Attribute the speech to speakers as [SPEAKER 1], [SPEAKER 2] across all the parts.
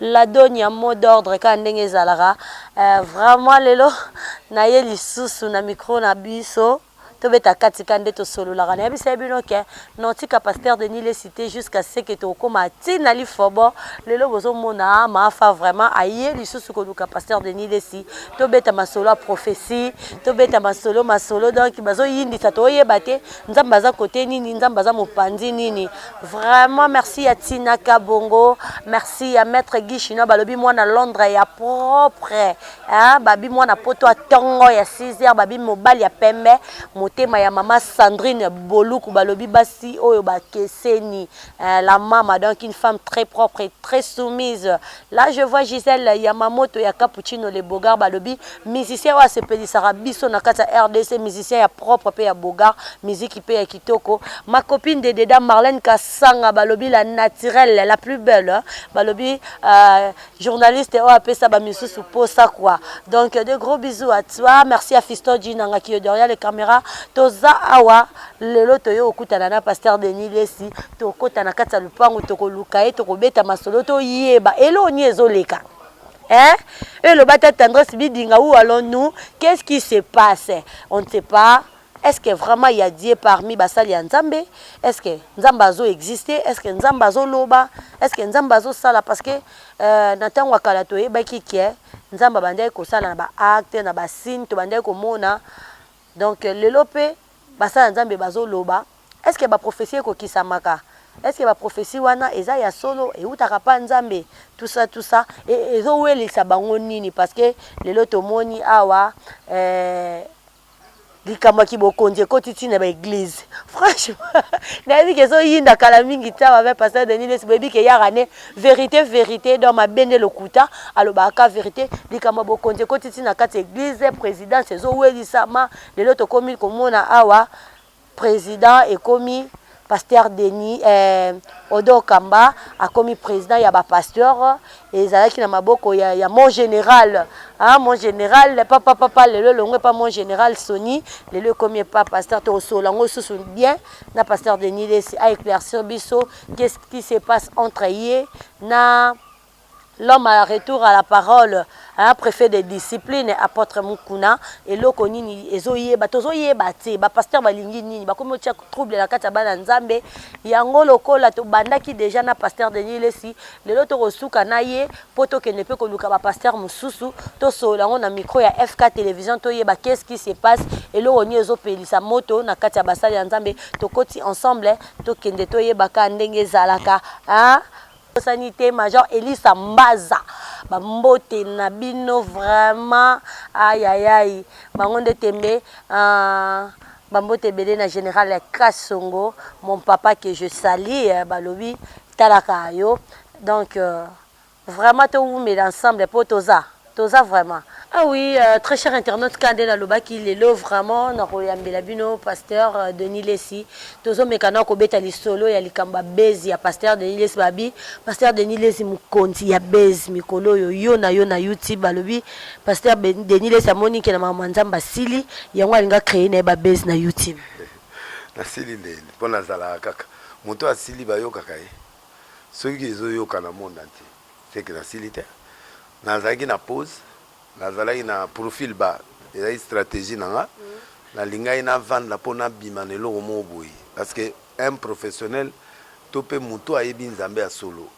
[SPEAKER 1] La donia mot d'ordre kaka ndenge ezalaka eh, vraiment lelo naye lisusu na micro na biso tobeta kati ka nde tosololaka nayebisa ye bino ke notika pasteur de nile cité jusqu'à ce que tokoma ti na lifobo lelo bozomona maafa vraiment aye lisusu koluka pasteur de nile si tobeta masolo ya prophetie tobeta masolo masolo donc bazoyindisa toyeba te nzambe aza kote nini nzambe aza mopanzi nini Vraiment merci ya Tina Kabongo, merci ya maître Guy Chinois balobi mwana Londres ya propre. Hein, babi mwana poto ya tongo ya 6h babi mobali ya pembe, motema ya mama Sandrine Boluku balobi basi oyo bakeseni. Hein, la mama donc une femme très propre et très soumise. Là je vois Gisèle Yamamoto ya Cappuccino le Bogar balobi musicien oyo asepelisaka biso na kati ya RDC musicien ya propre pe ya Bogar miziki pe ya kitoko ma copine de Deda Marlène Kasanga balobi la naturelle la plus belle balobi euh, journaliste oyo apesa ba misusu posa quoi donc de gros bisous à toi merci à Fiston Djinanga qui est derrière les caméras toza awa lelo toye kokutana na pasteur Denis Lesi tokota na kati ya lupangu tokoluka ye tokobeta masolo toyeba eloo nini ezoleka Hein? Et le bata tendresse bidinga où allons-nous Qu'est-ce qui se passe On ne sait pas. Est-ce que vraiment il y a Dieu parmi basali ya Nzambe Est-ce que Nzambe azo exister Est-ce que Nzambe azo loba Est-ce que Nzambe azo sala parce que euh, na tango akala to yebaki que Nzambe bandaki ko sala na ba acte na ba signe to bandaki ko mona donc lelo pe Basala nzambe bazo loba est ce que ba prophetie eko kisamaka est ce que ba prophetie wana eza ya solo ewutaka pa nzambe tout ça tout ça et ezo welisa bango nini parce que lelo tomoni awa eh, likambo ya kibokonzi ekoti ntina ba eglise franchement nayebi ke ezoyinda kala mingi te awa ve pasteur denis lesi boyebi ke yaka ne verité verité donc mabe nde lokuta alobaka ka verité likambo ya bokonzi ekoti ntina kati ya eglise présidence ezowelisama Lelo tokomi komona awa president ekomi pasteur Denis eh, Odon Kamba akomi president ya ba pasteur ezalaki na maboko ya, ya mon general ah, mon general papa papa lelo elongo epa mon general Sony lelo ekomi epa pasteur tokosola yango susu bien na pasteur Denis Lesi a éclaircir biso qu'est-ce qui se passe entre ye na L'homme a la retour à la parole hein prefet de discipline apotre mukuna eloko nini ezo yeba tozo yeba te ba pasteur ba lingi nini ba komi ko tia trouble na kati ya bana nzambe yango lokola to bandaki deja na pasteur Denis lesi lelo to ko suka na ye po to kende pe ko luka ba pasteur mususu to solola ngo na micro ya FK television to yeba qu'est ce qui se passe eloko nini ezo pelisa moto na kati ya basali ya nzambe to koti ensemble to kende to yeba ka ndenge ezalaka hein Bosani te major Elisa Mbaza ba mbote na bino vraiment ayayai bango nde tembe uh, ba mbote ebele na general ya Kasongo mon papa que je salie eh, balobi talaka yo donc uh, vraiment towumela ensemble mpo toza Toza vraiment. Ah oui, euh, très cher internaute kande na lobaki lelo vraiment na koyambela bino pasteur euh, Denis Lessi. Tozo meka na kobeta lisolo ya likamba bezi ya pasteur Denis Lessi babi. Pasteur Denis Lessi mukonzi ya bezi mikolo yo yo na yo na YouTube balobi pasteur ben, Denis Lessi amoni ke na mama nzamba sili yango alinga créer na ba bezi na YouTube. Na
[SPEAKER 2] sili nde pona zala kaka. Moto asili bayokaka ye. Soki ezo yoka na monde entier. Ce que nasili te nazalaki na pose nazalaki na profil ba ezalaki strategie na nga nalingaki navanda mpo nabima na eloko moko boye parce que un professionnel to mpe moto ayebi nzambe ya solo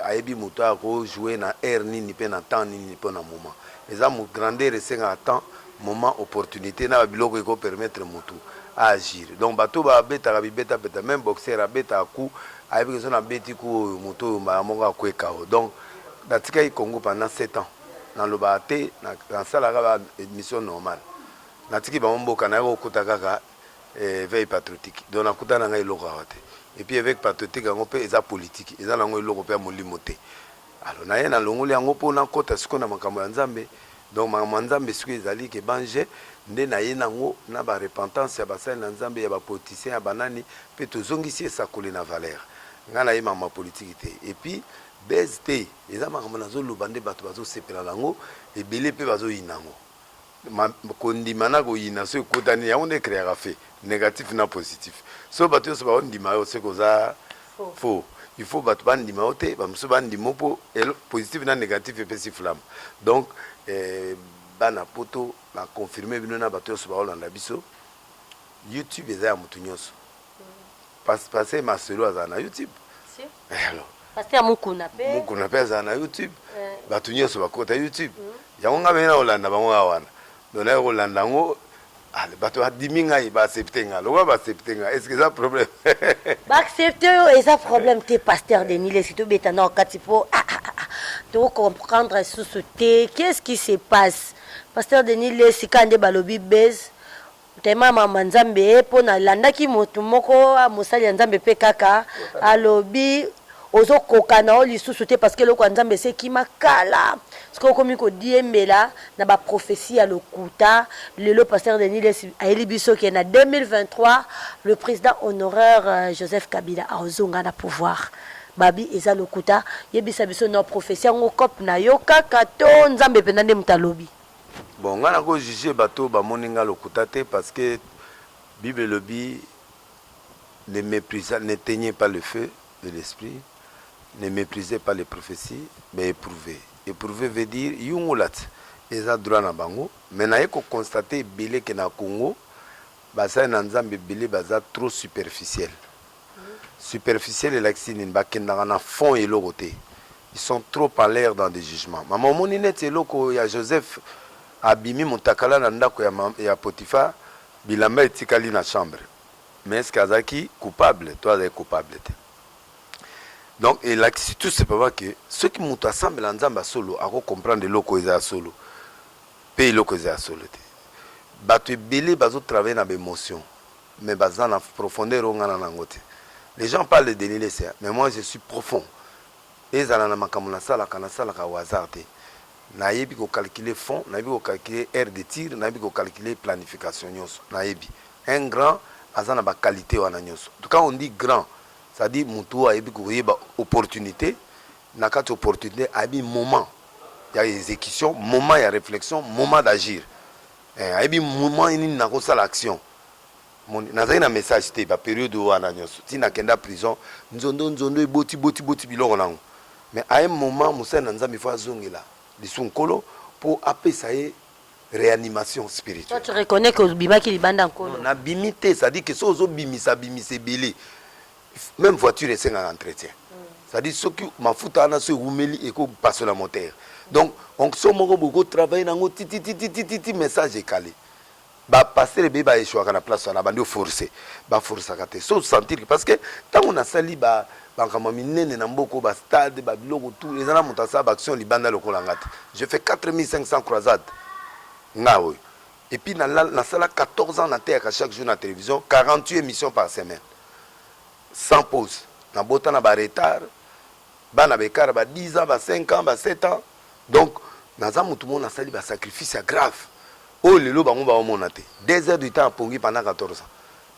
[SPEAKER 2] ayebi moto aya kojoue na aire nini mpe na temps nini mpo na moment eza grandeur esengaka temps moment opportunité na babiloko ekopermettre motu aagir donc bato babetaka bibetapeta meme boxeur abetaka coup Ayebi que soki na beti coup oyo moto oyo mbala moko akue KO. Donc na tikaki Congo pendant sept ans. Na lobaka te, na salaka ba emissions normal. Na tiki bango mboka, naye ko kuta kaka eveil patriotique. Donc na kutana na ngai eloko awa te. Et puis eveil patriotique yango pe eza politique. Eza na ngo eloko pe ya molimo te. Alors naye na longoli yango po na kota sikoyo na makambo ya Nzambe donc makambo ya Nzambe sikoyo ezali ke ban je nde naye nango na ba repentance ya basali na Nzambe ya ba politiciens ya ba nani pe tozongisi esakoli na valeur nga naye makambo ya politique te et puis buzz te eza makambo nazo loba nde batu bazo sepela nango ebele pe bazo yina yango. Ma, kondima na koyina so ekutani yango nde ecreaka fait negatif na positif so bato nyonso baondima yo seke oza faux il faut bato bandima yo te bamosusu bandima yo mpo positif na negatif epesi flamme donc eh, bana poto baconfirme bino na bato nyonso baolanda biso youtube eza ya moto nyonso Pas- Pasteur Marcelo azala na YouTube. Si. Eh, alors, Pasteur Mukuna
[SPEAKER 1] pe. Mukuna mpe azala na
[SPEAKER 2] YouTube. Eh. Bato nyonso bakota YouTube. Yango ngai mpenza nakolanda bango awa wana. Donc naye kolanda yango ah, bato badimi ngai baaccepte ngai lokola baaccepte ngai est ce que eza problème baaccepte
[SPEAKER 1] yo eza problème te pasteur denis lesi tobeta nao kati mpo ah, ah, ah, ah, tocomprendre lisusu te qu'est ce qui se passe pasteur denis lesi kaka nde balobi base Ntema mama nzambe po na landaki moto moko mosali ya nzambe pe kaka alobi ozo koka na yo lisusu te parceque eloko ya nzambe esi ekima kala sikoyo okomi ko diembela na ba prophetie ya lokuta lelo pasteur denis lessi ayeli biso ke na 2023 le president honoraire joseph kabila akozonga na pouvoir babi eza lokuta yebisa biso nao prophetie yango cope na yo kaka to nzambe penza nde moto alobi. Bon nga
[SPEAKER 2] nako juge bato oyo bamoni nga lokuta te parce que bible elobi ne meprisa n'eteignez pas le feu de l'esprit ne meprisez pas les propheties mais eprouvez eprouvez veut dire yungulat eza droit na bango mais naye ko constate ebele ke na Congo basali na nzambe ebele baza trop superficiel Superficiel elakisi nini bakendaka na fond ya eloko te ils sont trop en l'air dans des jugements mama omoni neti eloko ya Joseph abimi mutakala na ndako ya, ma- ya Potiphar bilamba etikali na chambre mais est-ce que azalaki coupable to azalaki coupable te donc elakisi tout simplement que soki moto asambela nzambe ya solo ako comprendre eloko eza ya solo mpe eloko eza ya solo te bato ebele bazo travaille na baemotion mais baza na profondeur oyo nga na nango te les gens parlent de Denis lessi mais moi je suis profond ezala na makambo na salaka na salaka au hasard te na yebi ko calculer fond na yebi ko calculer aire de tir na yebi ko calculer planification nioso na yebi un grand aza na ba qualite wana nioso quand on dit grand c'est à dire mutu oyo ayebi ko yeba opportunite na kati opportunite ayebi moment ya execution moment ya reflexion moment d'agir eh, ayebi moment nini nakosala action nazali na message te ba periode wana nyonso ti nakenda prison nzondo nzondo eboti boti boti biloko nango mais à un moment mosali na nzambe fo azongela lisu nkolo mpo apesa ye réanimation spirituelle. Toi, tu reconnais que obimaki
[SPEAKER 1] libanda nkolo? Na bimi te, c'est-à-dire
[SPEAKER 2] que so ozo bimisa bimisa ebele. Même voiture esengaka entretien. Mm. C'est-à-dire soki mafuta wana so ewumeli eko pasola moteur. Donc onction moko boko travailler nango titi titi titi message ekali. Ba pasteur ebele ba echouaka na place wana bandi oforce ba forcaka te so sentir parce que ntango nasali ba makambo ya minene na mboka ba stade ba biloko tout eza na moto asala ba action libanda lokola nga te je fais 4500 croisade nga oyo et puis nasala 14 ans nateyaka chaque jour na télévision 48 émission par semaine sans pause nabota na ba retard bana ba ekara ba 10 ans ba 5 ans ba 7 ans donc naza mutu moko nasali ba sacrifice ya grave oyo lelo bango ba omona te des heures du temps ya pongi pendant 14 ans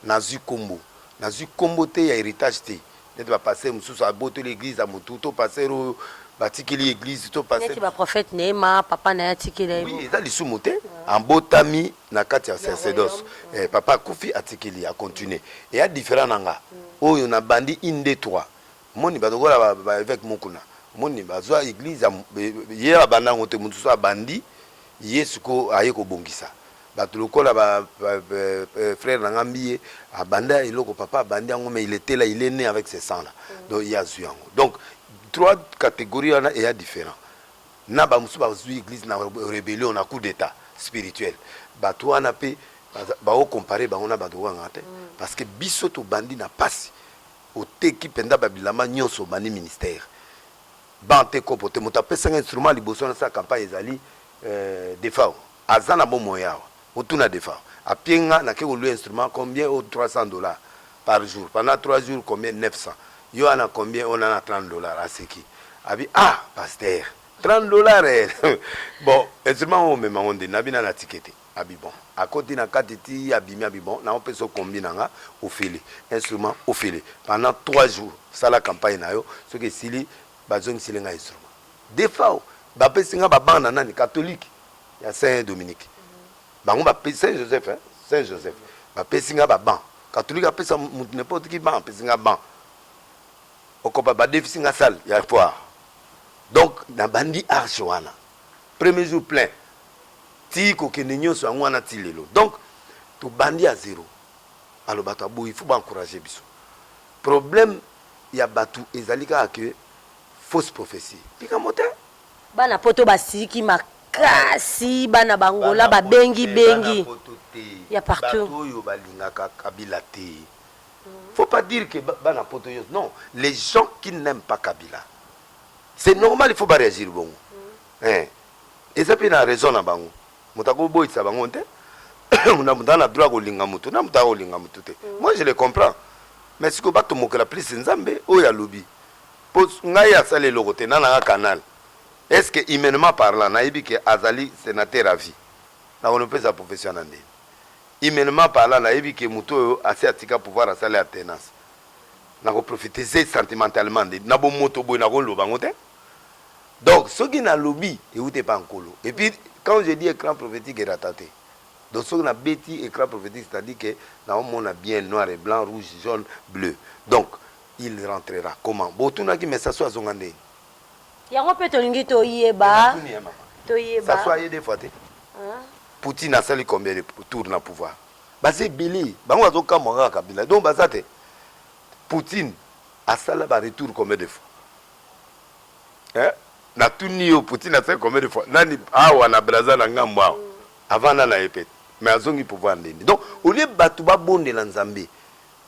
[SPEAKER 2] nazui kombo nazui kombo te ya heritage te neti ba pasteur mususu abotoli eglise ya mutu to pasteur oyo batikeli eglise to pasteur neti ba prophète neema
[SPEAKER 1] papa na ya tikeli ya oui, eza lisumu te
[SPEAKER 2] ambotami na kati ya sacerdoce eh, papa akufi atikeli a continuer eya différent na nga oyo na bandi inde 3 Omoni ba lokola ba ba eveque mukuna omoni bazwa eglise ye abanda yango te mutu mususu abandi ye sikoyo aye kobongisa batu lokola ba frère na nga mbiye abanda eloko papa abandi yango mais il etait là il est ne avec ce sang là donc ye azwi yango donc trois categorie wana eya different na ba mususu bazwi eglise na rebellion na coup d'etat spirituel batu wana pe bao comparer bango na batu kanga te parce que biso tobandi na pasi Oteki penza ba bilamba nionso obandi ministère banc te kopo te moto apesa nga instrument ya liboso nasala campagne ezali defao aza na bomoi awa otuna defao apie nga nake ko louer instrument combien oh 300 dollars par jour pendant 3 jours combien 900 yo wana combien ona na 30 dollars aseki abi ah pasteur 30 dollars eh bon instrument oyo omema ngo nde nabi nanu atike te. Abi bon akoti na kati ti abimi abi bon nao pesa yo combi na nga ofele instrument ofele pendant trois jours sala campagne na yo soki esili ba zongiseli nga instrument defao ba pesi nga ba banc na nani catholique ya saint Dominique bango ba pesi saint Joseph hein saint Joseph ba pesi nga ba banc catholique apesa mutu n'importe qui banc apesi nga banc okopa ba defisi nga salle ya foire donc na bandi arche wana premier jour plein ti kokende nionso yango wana ti lelo donc tobandi a zero alors bato aboyi il faut ba encourager biso problème ya bato ezali kaka que fausse prophetie likambo te bana poto
[SPEAKER 1] basiliki makasi bana bangola babengi bengi ya partout bato oyo balingaka
[SPEAKER 2] kabila te faut pas dire que bana poto yo non les gens qui n'aiment pas kabila C'est normal il faut ba reagir bongo. Eh. Eza pe na raison na bango. Moto ako boyisa bango te. na moto na droit kolinga moto na moto akolinga moto te mm. moi je le comprends mais sikoyo batomokela plus nzambe oyo alobi mpo ngai asali eloko te na nanga canal est ce que humainement parlant nayebi ke azali sénateur à vie nakonopesa profession na ndeni humainement parlant nayebi ke moto oyo asi atika pouvoir asali atenance nako profiter ze sentimentalement nde na bomoto boye nako loba yango te donc soki na lobi ewuti epa nkolo et puis quand je dis ecran prophetique erata te donc soki na beti ecran prophetique c'est à dire que nao mona bien noir et blanc rouge jaune bleu donc il rentrera comment bo tunaki mais sasu azonga ndeni yango
[SPEAKER 1] pe tolingi toyeba toyeba
[SPEAKER 2] sasu aye de fois te poutine asali combien de tour na pouvoir Baza ebele bango bazo kamwa kaka kabila donc baza te poutine asala ba retour combien de fois eh? na tuni yo poutine asala combien de fois nani awa na braza na ngambo awa avanda na ye pete mais azongi pouvoir ndeni donc olie bato babondela nzambe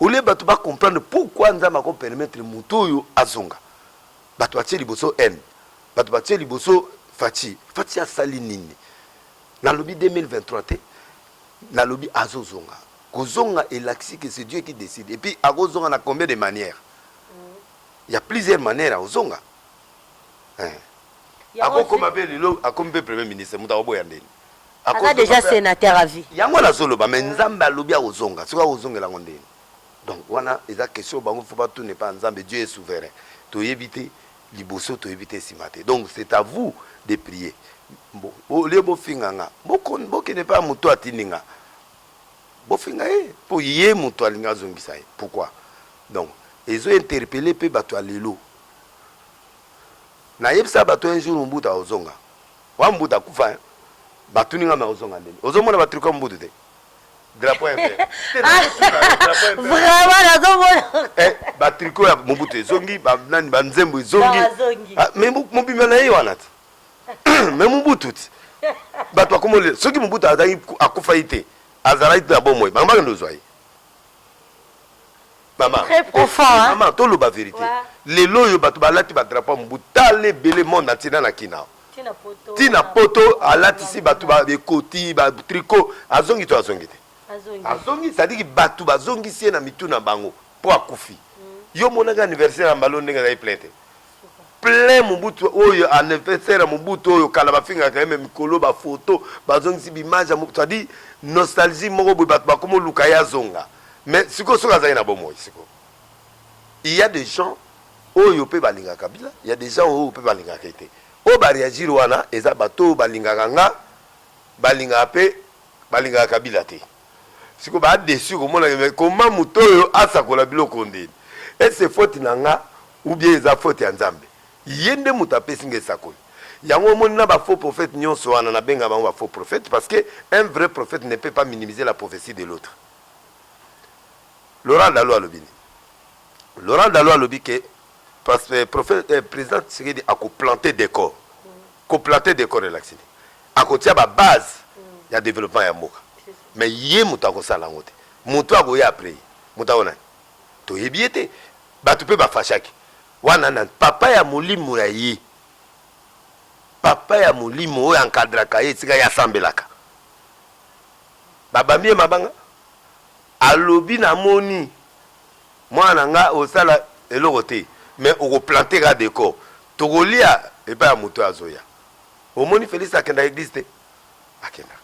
[SPEAKER 2] olie bato bacomprendre pourquoi nzambe akopermettre moto oyo azonga bato batie liboso haine bato batie liboso faci faci asali nini Nalobi 2023 te nalobi azo zonga kozonga elakisi que c'est Dieu qui decide et puis akozonga na combien de manière il y a plusieurs manières akozonga eh. akokoma mpe lelo akomi mpe premier ministre moto akoboya ndeni aza déjà
[SPEAKER 1] sénateur à vie yango nazoloba mais
[SPEAKER 2] nzambe alobi akozonga soki akozongela yango ndeni donc wana eza question bango fo batuna epa nzambe dieu est souverain toyebi te liboso toyebi te sima te donc c'est à vous de prier Bo- bo- olie bofinga nga boko- bokende mpe ya moto atindi nga bofinga ye mpo ye moto alingi azongisa ye pourquoi donc ezo interpele mpe bato ya lelo nayebisa bato un jour mobutu akozonga wa mobutu akufa hein? batuni nga me ozonga ndeni ozomona batruka mobutu te drapeau ya vert te na tuna drapeau ya vert
[SPEAKER 1] vraiment nazo mona eh ba tricot ya
[SPEAKER 2] mobutu ezongi ba nani ba nzembo ezongi ah, mais mobimba na ye wana ti mais mobutu ti bato bakomolela soki mobutu azalaki akufa ye te azalaki mpe ya bomoi bango bakende ozwa ye Maman, très profond eh, eh, maman
[SPEAKER 1] toloba verite ouais.
[SPEAKER 2] lelo oyo bato balati badrapo ya mobu tala ebele monde entier na na kina ntina poto alatisi bato ekoti batriko azongi to azongi te azongi sadiki bato bazongisi ye na mitu na bango mpo akufi hmm. yo omonaki anniversaire ya mbalo ndenge azali plein te plein mobutu oyo anniversaire ya mobutu oyo kala bafingaka ye me mikolo ba photo bazongisi bimage ya mobutu adi nostalgie moko boye bato bakoma oluka ye azonga me sikoyo soki azali na bomoi sikoyo il ya des gens oyo mpe balingaka kabila ya des gens oyo mpe balingaka ye te oyo bareagir wana eza bato oyo balingaka nga balingaka mpe balingaka kabila te siko ba deçu komona ke mais comment moto oyo asakola biloko ndeni est ce faute na nga ou bien eza faute ya Nzambe ye nde moto apesi nga esakoli yango omoni na ba faux prophète nionso wana na benga bango ba faux prophète parce que un vrai prophète ne peut pas minimiser la prophetie de l'autre Laurent Dalo alobi nini Laurent Dalo alobi ke parce que prophète eh, président Tshisekedi ako planter décor ko planter décor elakisi nini akotia ba base ya developpement ya mboka mais ye moto akosala yango te moto akoya apres ye moto ako nani toyebi ye te bato mpe bafashaki wana nani papa ya molimo ya ye papa ya molimo oyo ankadraka ye esika ye asambelaka babambi ye mabanga alobi namoni mwana na nga osala eloko te mais okoplante ka decor tokolia epai ya moto azoya Omoni Felix akendaka eglise te? Akendaka.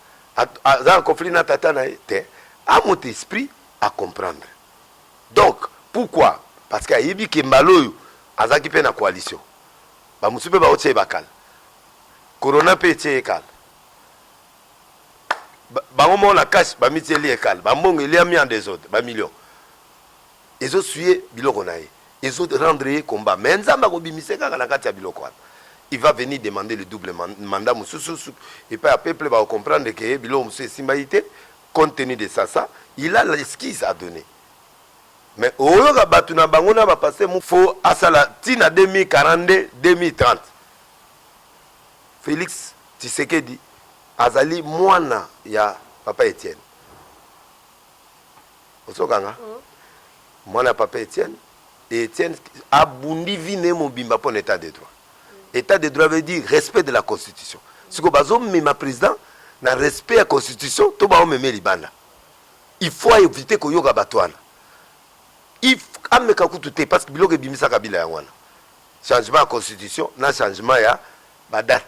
[SPEAKER 2] Aza na conflit na tata na ye te. A mot esprit a comprendre. Donc pourquoi? Parce que ayebi que mbala oyo azalaki mpe na coalition. Ba mosusu mpe baotia ye bakala. Corona mpe etie ye kala. Bango moko na cash bamitieli ye kala. Ba mbongo eliami en desordre, ba millions. ezo suye biloko na ye ezo rendre ye combat mais nzambe ako bimise kaka na kati ya biloko wana il va venir demander le double mandat mususu epai ya peuple bako comprendre que biloko mususu esimba ye te compte tenu de sa sa il a l'esquise a donner mais oyoka batu na bango na ba pasteur mu faut asala ti na 2042 2030 Felix Tshisekedi azali mwana ya papa Etienne. Ozo kanga mwana ya papa Etienne et Etienne abundi vie na ye mobimba pona etat de droit. Etat de droit veut dire respect de la constitution. Sikoyo bazo mema president na respect ya constitution to bao meme libanda? Il faut a eviter koyoka batu wana. Il ameka kutu te parce que biloko ebimisa kabila yango wana. Changement ya constitution na changement ya ba date.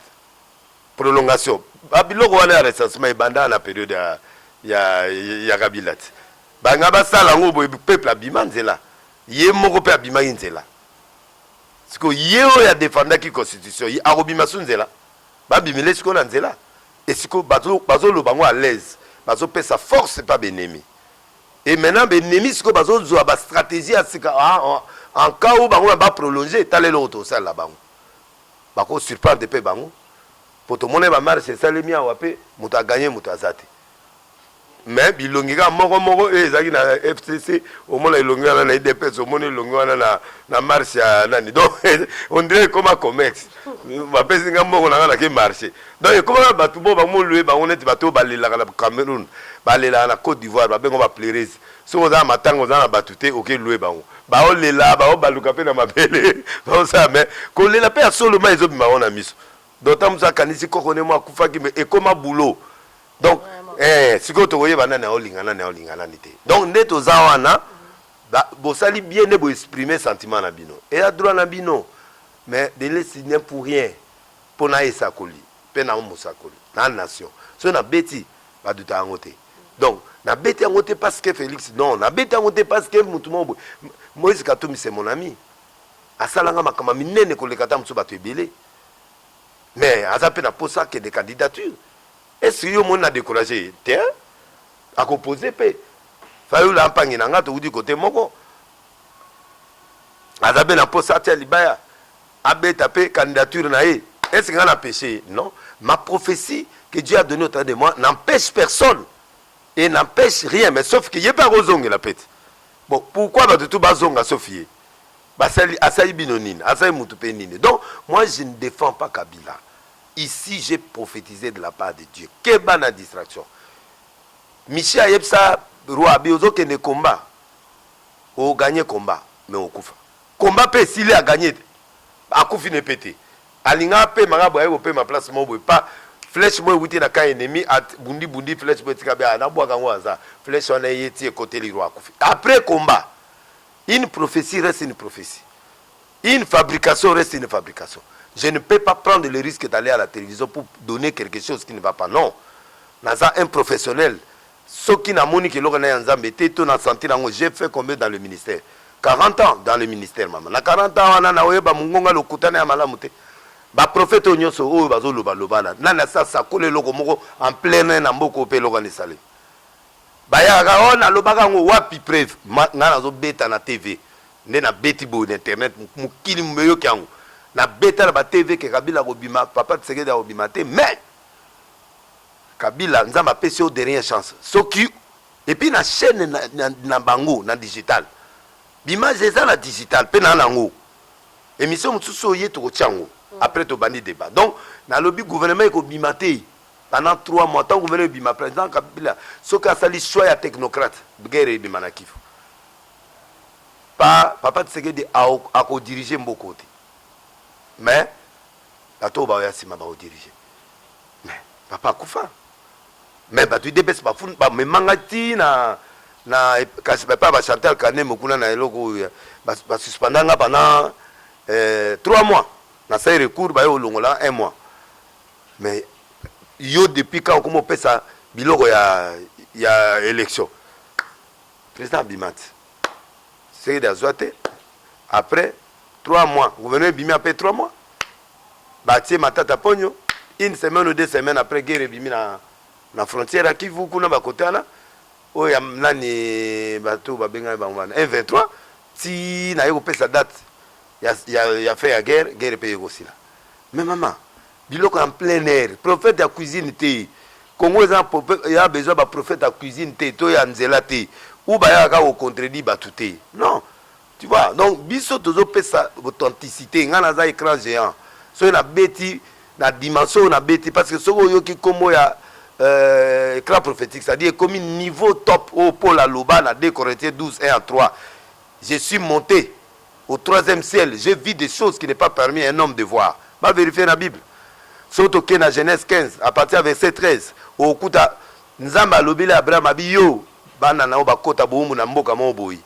[SPEAKER 2] Prolongation ba biloko wana ya recensement ebanda na periode ya ya ya kabila te balinga basala yango boye peuple abima nzela ye moko mpe abimaki nzela siko ye oyo adefendaki constitution ye akobima su nzela babimile siko na nzela esiko bazoloba yango à l'aise bazopesa force pa benemi e maintenant benemi siko bazozwa bastratégie ya sika en cas oyo bango baprolonge tala eloko tokosalela bango Bako surprendre pe bango po tomonaki ba marches esalemi awa pe moto a gagner moto aza te mais bilongi kaka moko moko oyo ezalaki na FCC omona elongi wana na udps omoni elongi wana na, na marche ya nani donc on dirait ekoma comex bapesi nga mbongo na nga na ke marche donc ekomaka bato bo bamolue bango neti bato oyo balelaka na Cameroun balelaka na Côte d'Ivoire babengo ba pleureuses Soki oza na matanga oza na batu te oke loue bango bao lela bao baluka pe na mabele bao sala mais kolela pe ya solo mai ezo bima bango na miso donc ta musu akanisi koko ne moi akufaki mais ekoma boulot donc eh sikoyo toko yeba nani ao linga nani ao linga nani te donc nde toza wana ba bosali bien nde bo exprimer sentiment na bino eya droit na bino mais de lesi ne pour rien pona esakoli pe na mosakoli na nation soki na beti ba duta yango te donc nabeti yango te parce que félix non nabeti yango te parce que motu moko boye moïse katumbi c'est mon ami asalanga makambo ya minene koleka ata mosusu bato ebele mais aza mpe na mposa akende candidature esi yo omoni na décourage te akopose mpe fayulu ampangi na ngai towuti kote moko aza mpe na mposa atya libaya Abeta pe candidature na ye. Est ce que nga na peche ye? Non. Ma prophetie que Dieu a donne au travers de moi n'empeche personne et n'empeche rien mais sauf que ye pe ako zongela pe te. Bon pourquoi batu tout ba zonga sauf ye? Basali asali bino nini? Asali mutu pe nini? Donc moi je ne defends pas Kabila. Ici j'ai prophetise de la part de Dieu. Keba na distraction. Michel ayebisa Roi Abi ozo kende combat o gagne combat mais okufa. Combat pe esili a gagne te akufi ne pe te alinga apema kaka boye aye kopema place moko boye pa flèche moko ewuti na camp ennemi a bundi bundi flèche moko etika be na bwaka yango aza flèche wana eye ti ekoteli roi akufi après combat une prophetie reste une prophetie une fabrication reste une fabrication je ne peux pas prendre le risque d'aller à la télévision pour donner quelque chose qui ne va pas non naza un professionnel Soki na moni ke eloko naye ya nzambe te to na sentir yango j'ai fait combien dans le ministère 40 ans dans le ministère maman na 40 ans wana na oyeba mungonga lokuta naye ya malamu te ba prophète oyo nionso oyo bazo loba loba na nani asi asakola eloko moko en plein air na mboka oyo pe eloko wana esalemi bayaka kaka oyo oh, na lobaka yango wapi preuve ngai nazo beta na TV nde na beti boye na internet mokili mubeyoki yango na beta na ba TV ke Kabila kobima papa Tshisekedi akobima te mais Kabila nzambe apesi yo dernier chance soki epuis na chaine na bango na digital b'image eza na digital pe na nango emission mosusu oye tokotia yango apres tobandi debat donc nalobi gouvernement ekobima te pendant 3 mois tant gouvernement ebima president Kabila soki asali choix ya technocrate guerre ebima na kivu pa papa Tshisekedi akodirige mboka oyo te mais bato oyo baoya nsima baodirige mais papa akufa mais bato idps bamemanga ti na na kasi bapa ba chantal kanemo kuna na eloko oyo basuspenda nga pendant eh, trois mois na sai recours baye olongola un mois mais yo depuis quand okoma opesa biloko ya ya élection président abima ti tshisekedi azwa te après 3 mois gouvernement ebimi après 3 mois batie matata ponyo une semaine ou deux semaines après guerre ebimi na, na frontière ya kivu kuna bakote wana oyo ya nani bato babengani bango wana 23 ti naye kopesa date ya, ya, ya fin ya guerre guerre mpe ekosila me mama Biloko ya en plein air, prophète ya cuisine te. Congo eza ya besoin ba prophète ya cuisine te to ya nzela te ou ba yaka kaka ko contredire batu te non tu vois donc biso tozo pesa authenticité nga naza écran géant soki na beti na dimension oyo na beti parce que soki oyoki kombo ya euh, écran prophétique c'est à dire ekomi niveau top oyo Paul aloba na 2 Corinthiens 12 1 à 3 je suis monté au troisième ciel j'ai vu des choses qui n'est pas permis à un homme de voir ba verifier na bible soki toke na genèse 15 à partir ya verset 13 okokuta nzambe alobeli abraham abi yo bana na yo bakota bowumbu na mboka moko boye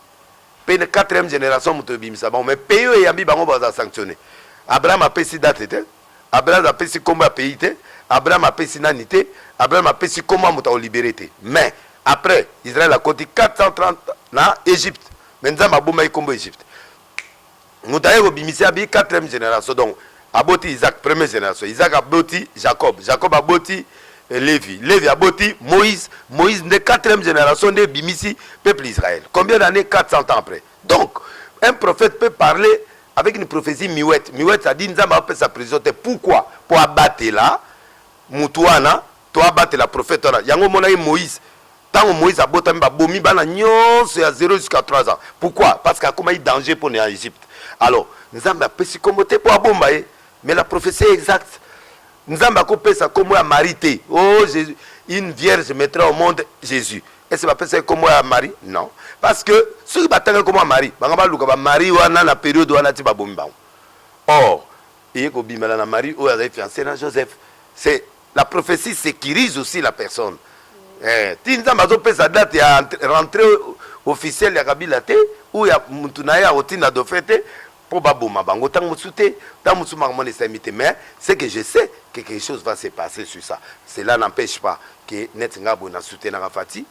[SPEAKER 2] pe na quatrième génération moto ebimisa bango mais pays oyo eyambi bango baza sanctionne abraham apesi date te abraham apesi nkombo ya pays te abraham apesi nani te abraham apesi nkombo ya moto akolibere te mais après israel akoti 430 na egypte mais nzambe abomaki nkombo egypte moto aye kobimisa abi quatrième génération donc aboti isaac première génération isaac aboti jacob jacob aboti eh, levi levi aboti moïse moïse nde quatrième génération nde ebimisi peuple israël combien d'année 400 ans après donc un prophète peut parler avec une prophétie miwete miwete adi nzambe apesa prison te pourquoi mpo abatela motu wana To abatela prophète wana. Yango omonaki Moïse tango Moïse abotami ba bomi bana nionso ya 0 jusqu'à 3 ans. Pourquoi? Parce que akomaki danger pona ya Egypte. Alors Nzambe apesi kombo te po abomba ye mais la prophetie est exacte. Nzambe ako pesa kombo ya Marie te. Oh Jesus une vierge mettra au monde Jesus. Est ce bapesa ye kombo ya Marie? Non. Parce que soki batangaki kombo ya Marie, banga baluka ba Marie wana na periode wana ti babomi bango. Or eye kobimela na Marie oyo azali fiancee na Joseph. C'est La prophetie securise aussi la personne. Eh, ti Nzambe azopesa date ya rentrée officielle ya Kabila te ou ya mutu na ye akotinda dauphin te mpo baboma bango ntango mosusu te ntango mosusu makambo wana esalemi te mais ce que je sais que quelque chose va se passer sur ça cela n'empêche pas que neti ngai boye na soutenaka fati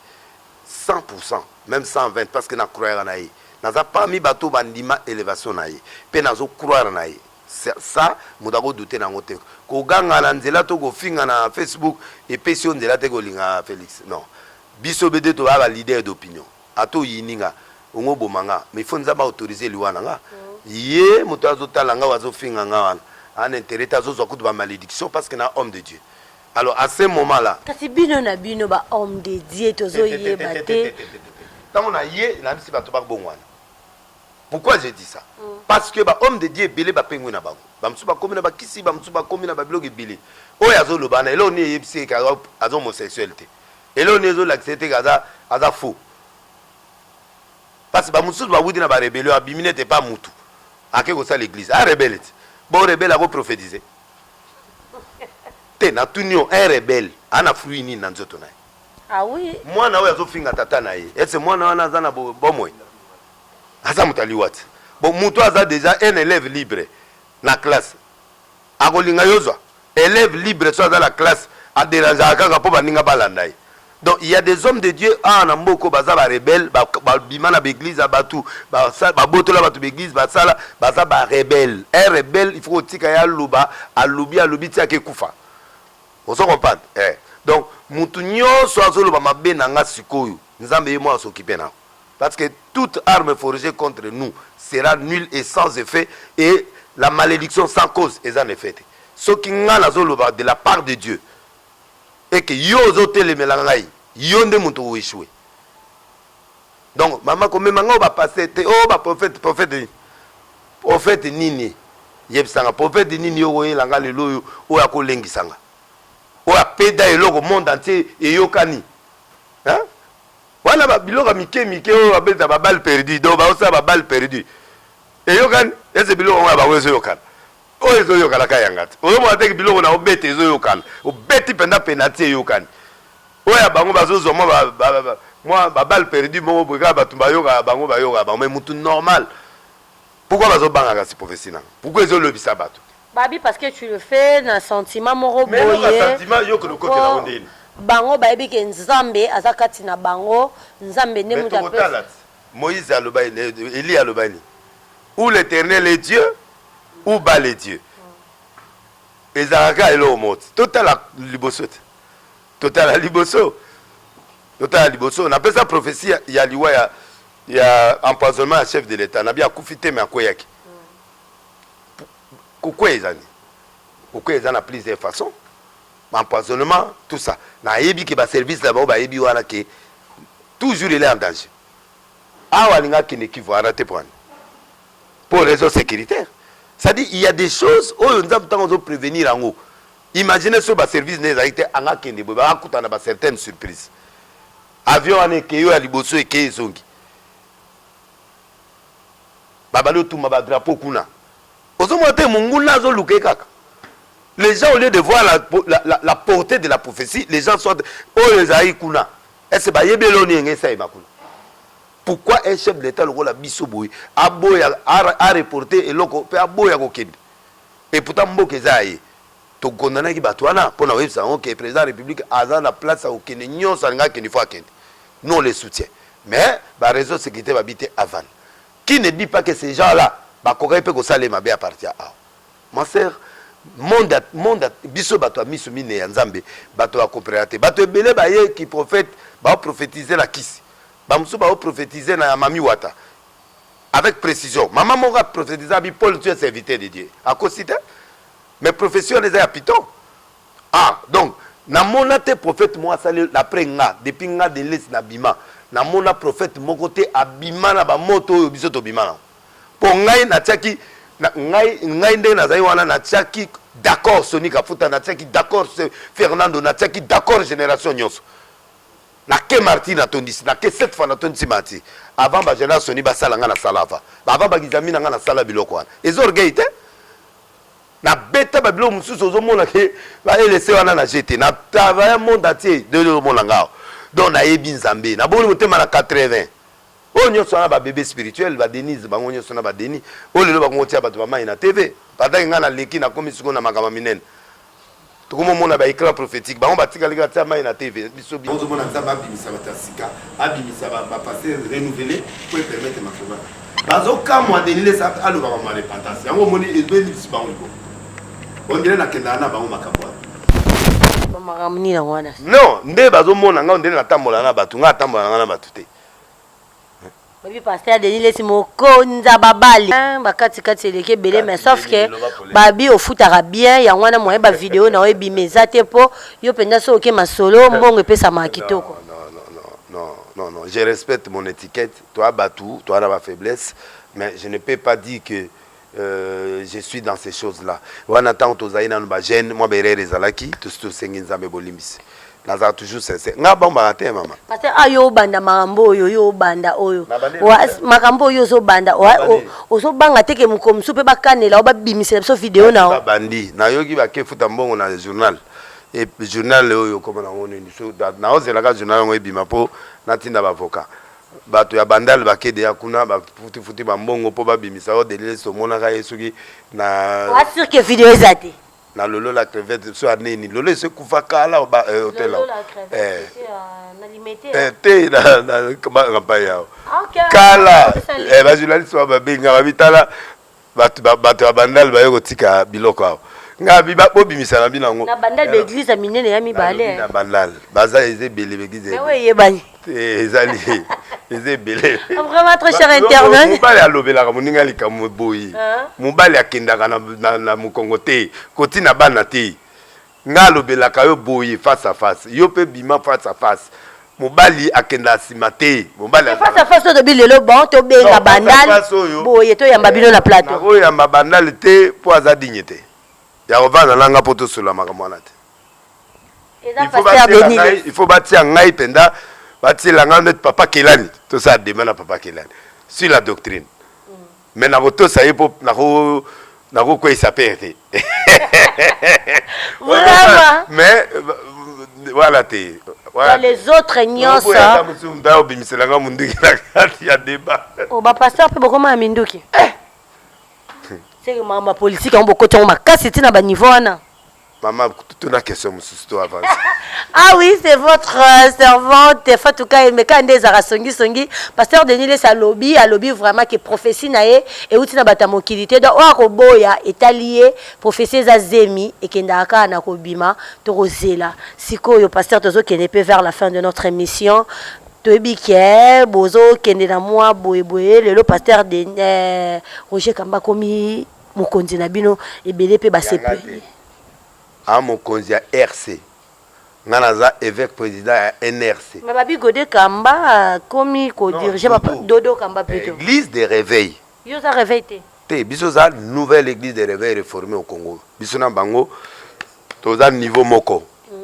[SPEAKER 2] 100 pourcent même 120 parce que na croyaka na ye naza parmi bato bandima élévation na ye mpe nazo croire na ye Ça moto ako douter nango te. Ko ganga na nzela to ko finga na Facebook epesi yo nzela te ko linga Felix non. Biso bde to zalaka leader d'opinion. Ata oyini nga, ongo boma nga mais il faut Nzambe a autoriser liwa na nga. Ye moto azo tala nga oyo azo finga nga wana a n'interet te azo zwa kutu ba maledictions parce que naza homme de Dieu. Alors à ce moment là. Kasi bino na bino
[SPEAKER 1] ba hommes de Dieu tozo yeba te. Tetetetetetetete. Tango na
[SPEAKER 2] ye na yebisi bato ba bongo wana. Pourquoi je dis ça? Parce que ba hommes de Dieu ebele ba pengwi na bango. Ba mosusu ba komi na ba kisi, ba mosusu ba komi na ba biloko ebele. Oyo azo loba wana eloko nini eyebisi ye que aza aza homosexuel te? Eloko nini ezo lakisa ye te que aza aza faux? Parce que ba mosusu ba wuti na ba rebellion abimi neti epa mutu ake kosala eglise. A rebelle ti bo rebelle ako prophetiser? Te natuni yo un rebelle ana fruit nini na nzoto na ye? Ah oui.
[SPEAKER 1] Mwana oyo azo finga
[SPEAKER 2] tata na ye est ce mwana wana aza na bomoi? Aza moto ya liwa te. Bon moto aza deja un elève libre na classe akolinga yo zwa? Elève libre soki aza na classe a derangeaka kaka mpo baninga balanda ye. Donc il ya des hommes de Dieu awa na mboka oyo baza ba rebelles babima na ba eglise ya batu babotola batu ba eglise basala baza ba rebelles. Un rebelle il faut kotika ye aloba alobi alobi ti ake kufa. Ozo comprendre eh donc mutu nionso azo loba mabe na nga sikoyo nzambe ye moko a s'occuper na yo parce que toute arme forgee contre nous sera nul et sans effet et la malediction sans cause eza na effet te soki nga nazo loba de la part de Dieu et que yo ozo telemela ngai yo nde mutu o echouer Donc mama komema ngai ba pasteur te oh ba prophète prophète nini prophète nini yebisa nga prophète nini yo oyela nga lelo oyo oyo akolengisa nga oyo apeda eloko monde entier eyokani hein wana ba biloko mike mike oyo babeta ba balle perdu donc baosala ba balle perdu eyokani ese biloko yango ya bango ezoyokana oyo ezoyokana ka yanga te ozomona te biloko na obeta ezoyokana obeti mpenza penati eyokani Oyo ya bango bazo zwa mwa ba mwa ba balle perdue moko boye kaka batu ba yokaka bango ba yokaka bango mais mutu normal pourquoi bazo banga kasi prophetie nanga pourquoi ezo lobisa batu te. Babi parce que tu
[SPEAKER 1] le fais na sentiment moko boye. Mais noko sentiment yo kende
[SPEAKER 2] okotela ngo ndeni. Bango bayebi ke
[SPEAKER 1] nzambe aza kati na bango nzambe nde mutu apesi. Mais toko tala ti moise aloba
[SPEAKER 2] elie aloba nini ou l'eternel est dieu ou bale dieu ezalaka eloko moko ti totala liboso ti. Totala liboso, totala liboso. Napesa prophetie ya, ya liwa ya, ya empoisonnement ya chef de l'etat. Nabi akufi te, mais akweyaki. Kokweya eza nini? Kokweya eza na plusieurs façons. Empoisonnement, tout ça. Nayebi ke ba service na bango bayebi wana ke toujours il est en danger. Awa alinga akende Kivu arate pwani. Pour raison sécuritaire. C'est-à-dire il y a des choses oyo nzambe ntango azo prévenir yango Imagine soki ba service naye ezalaki te anga kende boye baka kutana ba certaines surprise avion wana ekeyi oyo ya liboso ekeyi ezongi babali otumba ba drapeau kuna ozomona te monguna azoluka ye kaka les gens au lieu de voir la, la, la, la portée de la prophétie les gens sont oyo ezalaki kuna ese bayebi eloni yenge esalema kuna pourquoi un chef de l'état lokola biso boye aboya areporte eloko mpe aboya kokende Et pourtant mboka eza ya ye. To condamnaki batu wana pona koyebisa bango que president ya republique aza na place ya kokende nionso alingaki akende faut akende. Nous on les soutiens. Mais ba raisons de securite ba bi te avanda. Qui ne dit pas que ces gens là bakokaki pe kosala ye mabe a partir ya awa? Ma sœur monde ya monde ya biso batu ya misu mineyi ya Nzambe batu ba comprenaka te. Batu ebele baye ki prophète bao prophetiser na kisi. Ba mosusu bao prophetiser na ya mami wata. avec precision maman moko a prophetisa bi Paul tu es serviteur de Dieu akosi te mais prophetie wana eza ya piton ah donc namona te prophète moko asali d'après nga depuis nga de l'est na bima namona prophète moko te abima na ba moto oyo biso tobima na po ngai natiaki na, ngai, ngai ndenge nazali wana natiaki d'accord Sony Kafuta natiaki d'accord Fernando natiaki d'accord génération nyonso Na ke marti na tondisi na ke cette fois na tondisi marti avant ba jana soni ba sala nga na sala avant ba avant ba gizami na nga na sala biloko wana eza orgueil te na beta ba biloko mosusu ozo mona ke ba elese wana na jete na travailler monde entier de lo mona nga donc na yebi nzambe na boni motema na 80 oyo nyonso wana ba bebe spirituel ba denise bango nyonso na ba denis oyo lelo bakongo tia bato ba mai na tv pendant nga na leki na komi siko na makambo minene tokomomona ba éclat prophétique bango batikali kaka tia mai na tv biso biso tozomona nzambe abimisa bato ya sika abimisa bapaster renouvele po epermete makoba bazokamwa denilesa aloba bango ya repentance yango omoni ebelisi bango libo ondele nakendaka na bango
[SPEAKER 1] makambo wana non nde bazomona
[SPEAKER 2] ngai ondele natambola na bato ngai atambola na ngai na bato te
[SPEAKER 1] Baby pasteur Denis lesi mokonza babali hein, bakati kati eleki ebele mais sauf que babi ofutaka bien yango wana moyen ba video na ebima eza te po yo penza so oke masolo mbongo epesamaka kitoko
[SPEAKER 2] non, non, je respecte mon étiquette. Toi, Batou, toi, la faiblesse. Mais je ne peux pas dire que Euh, je suis dans ces choses là wana ntango tozali nanu bagene mwa berere ezalaki tosi tosengi nzambe bolimbisi nazala toujours sincère nga bambaka te mama parce ah yo obanda
[SPEAKER 1] makambo oyo yo obanda oyo makambo oyo ozobanda ozobanga te ke mokolo mosusu mpe bakanela o babimisela biso video na babandi nayoki
[SPEAKER 2] bakefuta mbongo na journal e journal oyo okoma nango nini naozelaka journal yango ebima mpo natinda baavocat Batu ya bandal bake deja kuna ba futi futi ba mbongo po ba bimisa yo delilesi tomonaka ye soki na Oa sur que video
[SPEAKER 1] eza te. na lolo la
[SPEAKER 2] crevette so ya nini lolo esi ekufa kala o ba eh, hotel Lolo awa. la crevette,
[SPEAKER 1] Eh, c'est, euh, na limete, eh, hein.
[SPEAKER 2] te na na kampa yao Ah, ok. kala Sali. eh, ba journaliste ba babenga babitala bato ba, bato ya bandal baye kotika biloko awa nga bi ba- bobimisa na bino yango na bandal Alors, baeglize ya
[SPEAKER 1] minene ya mibale nalobi na bandal baza
[SPEAKER 2] eza ebele bekize nawe eyebani
[SPEAKER 1] ezali
[SPEAKER 2] eza ebele vraiment très cher Ba-
[SPEAKER 1] internet mobali alobelaka
[SPEAKER 2] moninga likambo boye Hein? mobali akendaka na, na, na mokongo te kotina bana te Nga alobelaka yo boye face à face yo pe bima face à face mobali akenda nsima te mobali face à face olobi lelo
[SPEAKER 1] bon tobenga bandal boye toyamba bino na plateau nakoyamba bandal
[SPEAKER 2] te mpo aza digne te ya kovanda na nga mpo tosolola makambo wana te il faut batia ngai mpenza batiela ngai neti papa kelani tosala dema na papa kelani sur la doctrine mais nakotosa ye mpo nakokweyisa pere te
[SPEAKER 1] mais
[SPEAKER 2] wana te les autres
[SPEAKER 1] nyonso obimiselanga
[SPEAKER 2] monduki na kati ya deba oh, bapasteur mpe
[SPEAKER 1] bokoma ya minduki eh! seke makambo ya politike yango bokoti yango makasi ntina baniveau wana Maman,
[SPEAKER 2] tout na question mususu to avance. ah oui,
[SPEAKER 1] c'est votre euh, servante Fatouka Emeka nde ezara songi songi. Pasteur Denis Lesa lobi, a lobi vraiment que prophétie na ye et outina bata mokili te. Donc oa ko boya etalier prophétie za zemi et kenda aka na ko bima to ko zela. Sikoyo pasteur tozo kende pe vers la fin de notre émission. toyebi ke bozokende na mwa boyeboye lelo pasteur de eh, roger kamba akomi mokonzi na bino ebele mpe basepeli a
[SPEAKER 2] mokonzi ya rc nga naza evêque président ya nrc mais babi gode kamba
[SPEAKER 1] akomi kodirige dodo kamba plutôt église de réveil yo
[SPEAKER 2] oza réveil
[SPEAKER 1] te te biso oza
[SPEAKER 2] nouvelle église de réveil réformé au congo biso na bango toza niveau moko mm.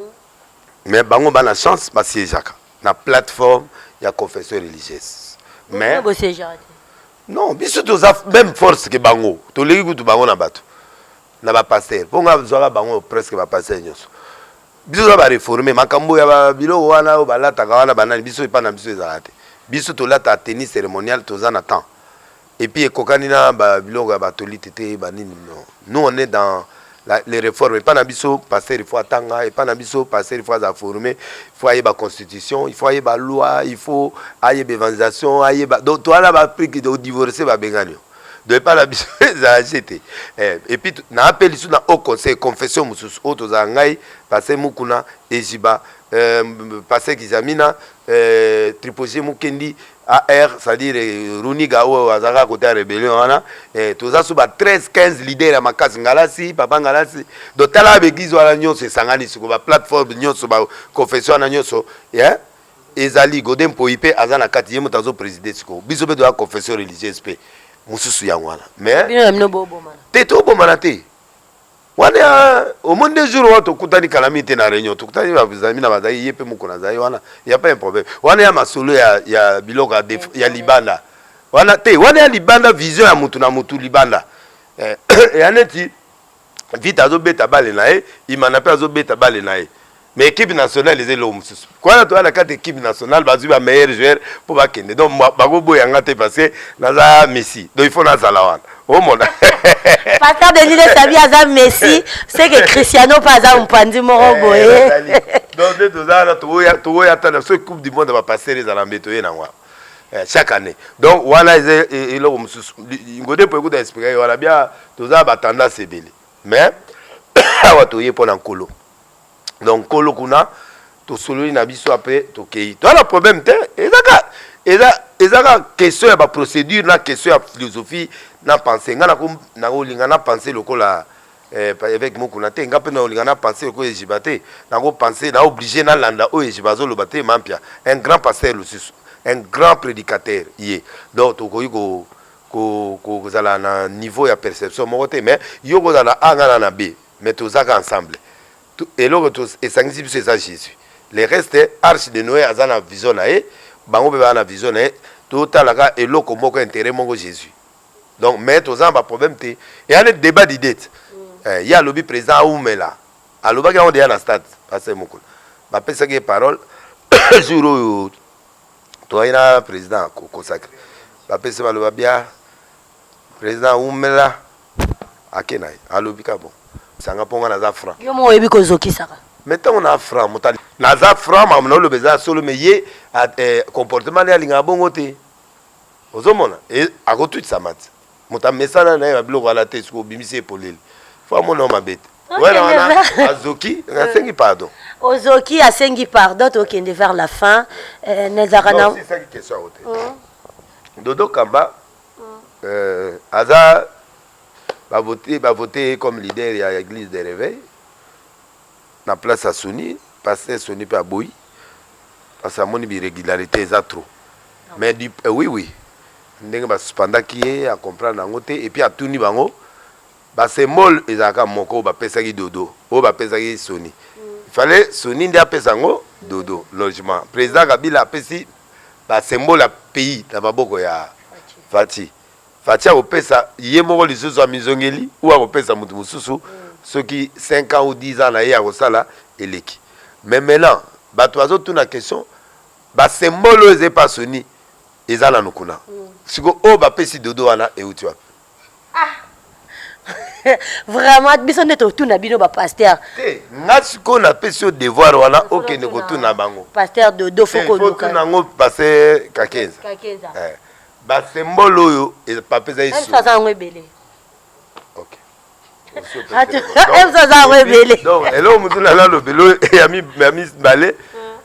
[SPEAKER 2] mais bango bana chance basiejaka na plateforme ya confession religieuse mais non biso toza même force ke bango toleki kutu bango na bato na bapaster mpo nga zwaka bango presque bapaster nyonso biso toza bareforme makambo ya biloko wana oyo balataka wana banani biso epai na biso ezalaka te biso tolata tenue cérémoniale toza na temps epuis ekokani na biloko ya batolite te banini non nous on est dans La, les réformes epa na biso pasteur il faut atanga epa na biso pasteur il faut aza forme il faut ayeba constitution il faut ayeba loi il faut ayeba evangelisation ayeba donc towana bapriki odivorce babengani yo donc epa na biso ezala je te eh, epuis naape lisusu na haut conseil confession mosusu oyo tozala ngai pasteur mukuna eziba euh, pasteur kizamina euh, triposie mukendi AR c'est à dire Runiga oyo aza kaka kote ya rebellion wana eh, toza so ba 13 15 leader ya makasi ngalasi papa ngalasi donc tala ba bêtise wana nyonso esangani siko ba plateforme nyonso ba confession wana nyonso yeah? ezali gode mpoi mpe aza na kati ye moto azo preside siko biso mpe toya confession religieuse mpe mosusu yango wana mais te tobomana te wana ya omoni nde jour wana tokutani kalami te na réunion tokutani bazami na bazali ye mpe moko nazali wana ya pas un problème wana ya masolo ya, ya biloko ya, def, ya libanda wana te wana ya libanda vision ya motu na motu libanda eh, ya neti vita azobeta bale na ye imana mpe azobeta bale na ye mais équipe nationale eza eloko mosusu kwana toya na kati équipe nationale bazwi ba meilleur joueur mpo bakende donc bakoboya nga te parce que naza messi donc il faut nazala wana omona pasteur
[SPEAKER 1] denis lesabi aza messi seke cristiano mpe aza mopanzi moko eh, boye donc nde
[SPEAKER 2] toza wana toboya ata na soki coupe du monde bapastere ezala mbe toye nango eh, chaque année donc wana eza e, e, eloko mosusu ngode mpo ekuta explika ye wana bia toza batendance ebele mais awa toye mpo na nkolo donc kolo kuna tosololi na biso apres tokei toa na problème te ezaka eza ezaka question ya baprocédure na question ya philosophie na pense ngai nakolinga na pense lokola eh, évêque mokuna te ngai mpe nakolinga na pense lokola ejiba te nakopense na oblige nalanda oyo ejiba azoloba te mampia un grand pasteur lususu un grand prédicateur ye donc tokoki ko kozala na niveau ya perception moko te mais yo kozala a ngai na na b mais tozaka ensemble eloko to esangisi biso eza Jesus le reste arche de Noé aza na vision na ye bango pe ba na vision na ye totalaka eloko moko intérêt moko Jesus donc mais toza na ba problème te eya ne débat d'idée mm. eh, ye alobi président aumela alobaki yango deya na stade pasteur mokolo bapesaki ye parole jour oyo toyaki na président kosakre bapesi baloba bia President wumela ake na ye alobi ka bon sanga mpo nga naza franc yo mo oyebi kozokisaka
[SPEAKER 1] me ntango na franc
[SPEAKER 2] moto ali- naza franc makambo na oloba eza solo me ye a- eh, comportement na ye alingaka bongo te ozomona E- akotutisa mati moto amesana na ye na biloko ala te soki obimisi ye polele fo amona yo mabe te Okay, wana wana Neva. azoki nasengi pardon ozoki asengi
[SPEAKER 1] pardon tokende vers la fin eh, nezaka na Non, osisaki question yango te
[SPEAKER 2] dodo kamba Euh, aza ba vote ba vote ye comme leader ya église de réveil na place ya Sony pasteur Sony pe aboyi parce que amoni bi régularité eza trop mais du euh, oui oui ndenge ba suspendaki ye a comprendre yango te et puis atuni bango ba symbole ezalaka moko oyo bapesaki dodo oyo bapesaki Sony il fallait Sony nde apesa yango dodo logement président Kabila apesi ba symbole ya pays na maboko ya Fatshi Fatshi akopesa ye moko lisusu amizongeli ou akopesa mutu mususu soki 5 ans ou 10 ans na ye akosala eleki mais maintenant batu bazo tuna question ba symbole oyo eza epa Soni eza nanu kuna siko oyo bapesi Dodo wana ewuti wapi?
[SPEAKER 1] Ah. Vraiment biso nde totuna bino ba pasteur. Te, nga siko
[SPEAKER 2] na pesi yo devoir wana okende kotuna bango. Pasteur Dodo foko
[SPEAKER 1] luka. Foko tuna ngo pasteur
[SPEAKER 2] Kakenza. Kakenza. Eh. Ba symbole oyo e papeza yesu. Elsa za ngo ebele.
[SPEAKER 1] OK.
[SPEAKER 2] Elsa
[SPEAKER 1] za ngo ebele. Donc elo mutu na
[SPEAKER 2] lalo belo ya mi ya mi bale. Hmm.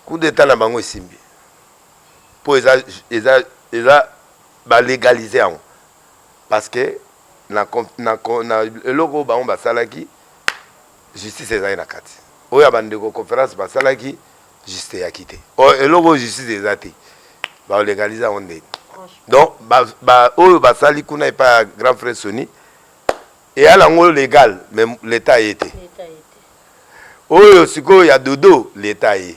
[SPEAKER 2] Coup d'état na bango esimbi. Po eza eza eza Ba legaliser yango parce que na na na eloko oyo bango basalaki justice ezali na kati oyo ya bandeko conference basalaki justice eyaki te oyo eloko oyo justice eza te baolegalize yango ndeni donc oyo basali kuna epai ya grand frère soni eya nango legal mais leta aye te oyo sikoyo ya dodo leta aye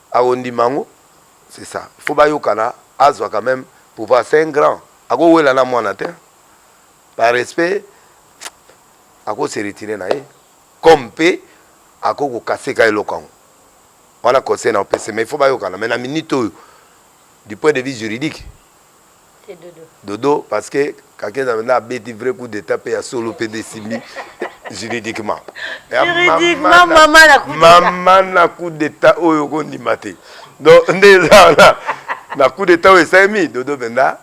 [SPEAKER 2] Akondima yango c'est ça il faut bayokana azwa quand meme pouvoir c'est un grand ako wela na mwana te par respect ako se retirer na ye comme pe ako ko casser ka eloko yango wana conseil na opese mais il faut bayokana mais na minute oyo du point de vue juridique
[SPEAKER 1] dodo
[SPEAKER 2] parce que kakeza nde abeti vrai coup d'état mpe ya solo mpe nde esimbi juridiquement mama na coup d'état oyo okondima te donc nde eza wana na coup d'état oyo esalemi dodo mpenza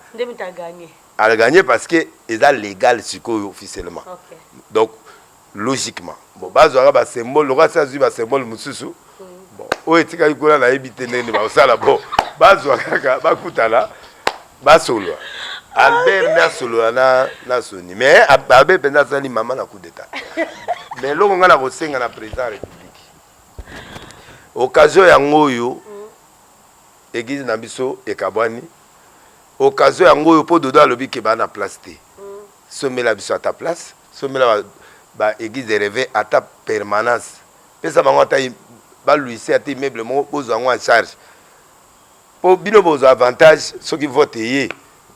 [SPEAKER 1] aganye parce
[SPEAKER 2] que eza légal sikoyo officiellement donc logiquement bon bazwaka ba symbole lokola se azwi ba symbole mosusu bon oyo etikali kuna nayebi te ndenge nini bakosala bon bazwa kaka bakutana basolola albert nde asolola na, na soni mais albert mpenza asali mama na coup d'état mais eloko ngai nakosenga na président ya république occasion yango oyo mm. eglise na biso ekabwani occasion yango oyo mpo dodo alobi ke baa na place te mm. somela biso ata place Sombela ba ba eglise de reve ata permanence pesa bango ata ba luise ata immeuble moko bozwa yango en charge po bino bozwa avantage soki vote eye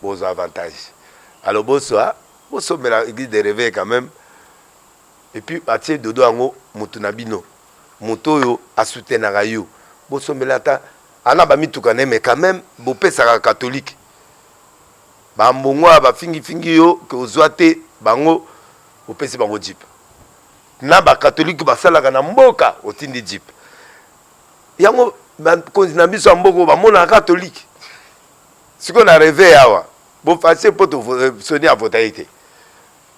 [SPEAKER 2] bozwa avantage alors boswa bosombela eglise de reve quand même et puis atie dodo yango mutu na bino moto oyo asoutenaka yo bosombela ata ana bamituka na ye mais quand même bopesaka catholique Ba ambongo oyo ba fingi fingi yo que ozua te bango opesi bango jeep na ba catholique basalaka na mboka otindi jeep yango ba konzi na biso ya mboka ba mona catholique siko na reve awa bo fasse po to euh, soni avota ye te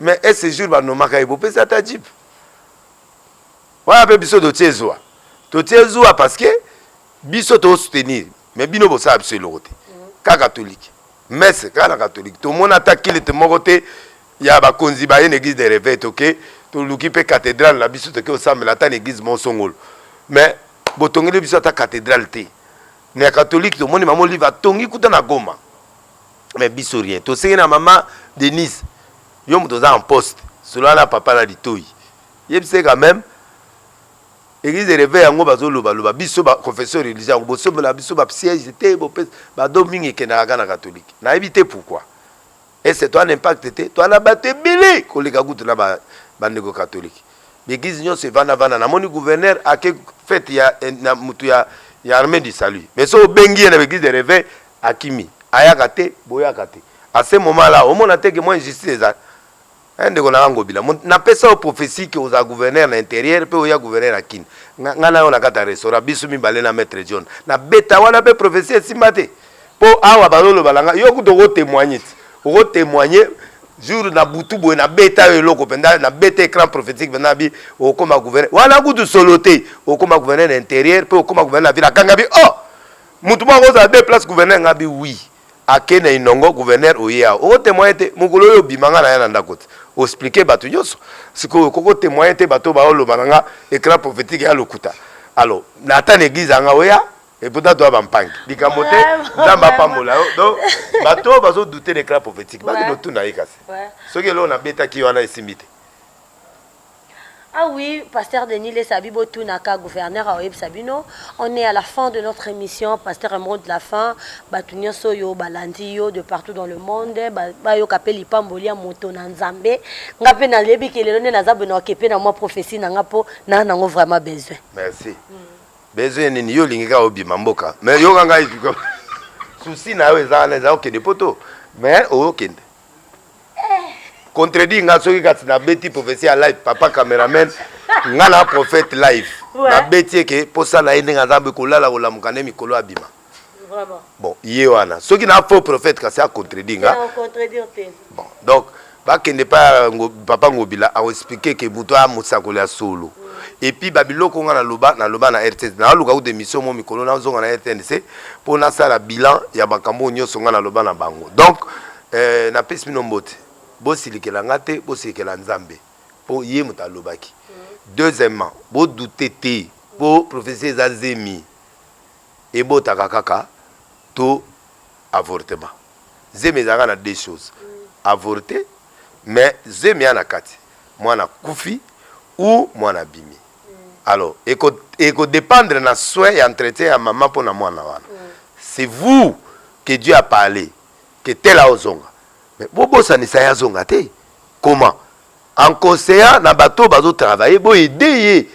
[SPEAKER 2] mais est ce jour ba nomaka ye bopesi ata jeep wana pe biso totie zua totie zua parce que biso to soutenir mais bino bosala biso eloko te ka catholique messe kaka na catholique tomoni ata kilite moko te ya bakonzi baye na église de réveil toke toluki mpe cathédrale na biso toke osambela ata na église moko songolo mais botongeli biso ata cathédrale te na ya catholique tomoni mama olive atongi kuta na goma mais biso rien tosenge na mama denise yo moto oza en poste solola na papa na litoi yebisa ye quand même Eglise de reveil yango bazoloba loba biso ba confession religieuse yango bosombela biso ba siège te bopesa bado mingi ekendaka kaka na katolike nayebi te pourquoi ese toa na impact te toa na bato ebele koleka kutu na bandeko katolike baeglise nyonso evanda vanda namoni gouverneur ake fete ya eh, na motu ya, ya armée du salut mais so obengi ye na baeglise de reveil akimi ayaka te boyaka te à ce moment là omona te ke mwa injustice eza Eh, ndeko na nga ngobila Mo- napesa yo prophesie ke ozala gouverneur na interieur mpe oya gouverneur na kin nga nga na yo na kati ya restaurant biso mibale na maître john na beta wana mpe prophesie esimba te mpo awa bazoloba na nga yo kutu okotemoigne ti okotemoigne jour na butu boye na beta yo eloko mpenza na beta écran prophétique mpenza bi okoma gouverneur wana kutu solo te okoma gouverneur na interieur mpe okoma gouverneur na ville akanga bi oh motu moko akozala deux place gouverneur nga bi oui Ake na inongo gouverneur oye awa oko temoigner te mokolo oyo obima nga naya na ndako te o expliquer batu nionso sikoyo okoki ko temoigner te batu oyo bazo loba na nga eclat prophetique eya lokuta alors na ata na eglise ya nga oya et pourtant toya ba mpangi likambo te nzambe apambola yo donc batu oyo bazo douter na eclat prophetique bakende otuna ye kasi soki eloko na betaki ye wana esimbi te Ah
[SPEAKER 1] oui, pasteur Denis Lesabi botunaka gouverneur aoyebisa bino. On est à la fin de notre émission, pasteur un mot de la fin. Batu nyonso yo balandi yo de partout dans le monde, ba- bayoka pe lipamboli ya moto na Nzambe. Nga pe nalebi ke lelo nde naza beno akepe na mwa prophetie na nga po na nango vraiment besoin. merci
[SPEAKER 2] besoin nini yo olingi kaka obima mboka mais yoka ngai sikoyo. souci na yo eza wana eza okende poto mais okende contredit nga soki kasi nabeti prophetie ya live papa cameraman nga na prophète live nabeti eke mposa na ye ndenge aza boye kolala kolamuka nde mikolo abima
[SPEAKER 1] bon ye wana
[SPEAKER 2] soki na faux prophète kasi acontredit nga bon donc bakende pa papa ngobila akoexplike ke moto aya mosakoli ya solo mm. epuis babiloko nga naloba naloba na rtnc naluka kuta emission mo mikolo nazonga na rtnc mpo nasala bilan ya makambo oyo nyonso ngai naloba na bango donc eh, napesi bino mbote bosilikela ngai te bosilikela nzambe mpo ye moto alobaki deuxièmement bodute te mpo prophesie eza zemi ebotaka kaka to avortement zemi ezalaka na deux choses avorte mais zemi ya na kati mwana kufi ou mwana bimi alors eko eko dependre na soin ya entretien ya maman mpo na mwana wana c'est vous que Dieu a parlé que tel aozonga mais bobosanisa ye azonga te comment en conseillant na bato oyo bazo travailler bo aide ye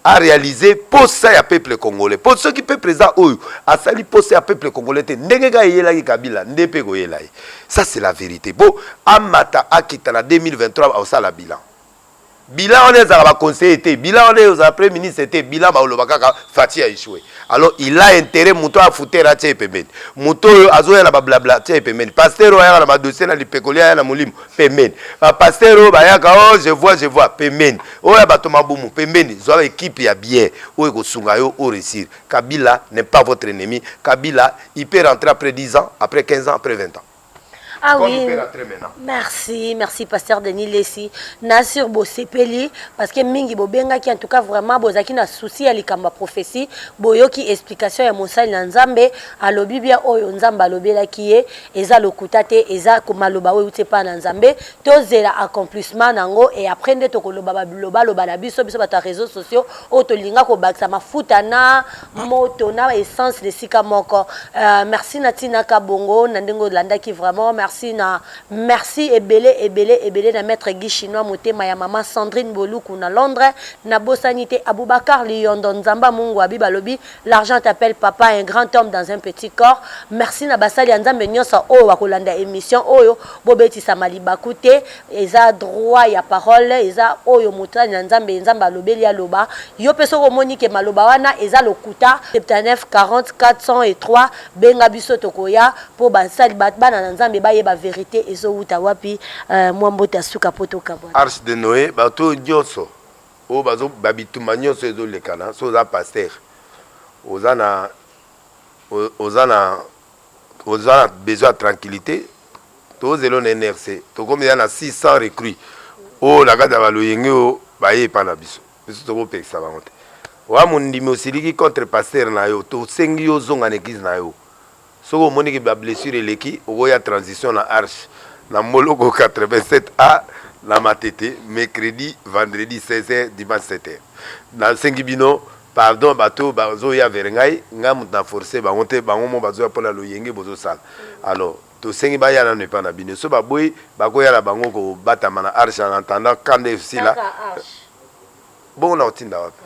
[SPEAKER 2] a réaliser mposa ya peuple congolais mpo soki peuple eza oyo asali mposa ya peuple congolais te ndenge kaka eyelaki kabila nde mpe ekoyela ye ça c'est la vérité mpo amata akita na 2023 aosala bilan bilan wana ezalaka ba conseiller te bilan wana ezalaka premier ministre te bilan baoloba kaka faci a échoué alors il a intérêt moto oyo afuter atia ye pembeni moto oyo azoya na bablabla atia ye pembeni pasteur oyo ayaka na badossier na lipekoli aya na molimo pembeni bapasteur oyo bayaka o oh, je vois je vois pembeni oyo ya bato mabumu pembeni zwa ekipe ya bien oyo ekosunga yo o réussir kabila n'est pas votre ennemi kabila il peut rentrer après 10 ans après 15 ans après 20 ans Ah oui.
[SPEAKER 1] Merci, merci pasteur Denis Lessi. Na sur bosepeli parce que mingi bobenga ki en tout cas vraiment bozaki na souci ya likamba prophétie, boyoki explication ya mosali na Nzambe, alobi bien oyo Nzambe alobelaki ye, eza lokuta te, eza komaloba oyo uti pa na Nzambe, tozela accomplissement nango et après nde tokoloba ba loba loba na biso biso bato ya réseaux sociaux oyo tolinga kobakisa mafuta na moto na essence na esika moko uh, merci na tina kabongo na ndenge olandaki vraiment merci na merci ebele ebele ebele na maître guy chinois motema ya mama sandrine boluku na londres na bosani te aboubacar liyondo nzamba mungu abi balobi l'argent t'appelle papa un grand homme dans un petit corps merci na basali ya nzambe nyonso oyo wakolanda émission oyo bobetisama libaku te Eza droit ya parole eza oyo motali na nzambe nzambe alobeli aloba yo pe soki omoni ke maloba wana eza lokuta 79 40 403 benga biso tokoya po basali bana na nzambe bayeba verite ezo wuta wapi euh, mwa mbote ya suka po tokabwana arche de noe bato
[SPEAKER 2] oyo nyonso oyo bazo babitumba nyonso ezo lekana so oza pasteur oza na oza na Oza na besoin ya tranquillite to zelo na NRC tokomi ya na 600 recrues oyo na kati ya baloyenge oyo baye epa na biso biso tokopekisa bango te wa mondimi osiliki contre pasteur na yo tosengi yo ozonga na eglise na yo soki omoni ke ba blessure eleki okoya transition na arche na mboloko 87 a na matete mercredi vendredi 16 heures dimanche 7 heures nasengi bino Pardon batu oyo bazoya vers ngai ngai moto na force bango te bango mo bazoya mpo na loyenge bozosala alors tosengi baya nano epai na bino so baboyi bakoya na bango kobatama na arche en attendant camp nde esila bongo nakotinda wapi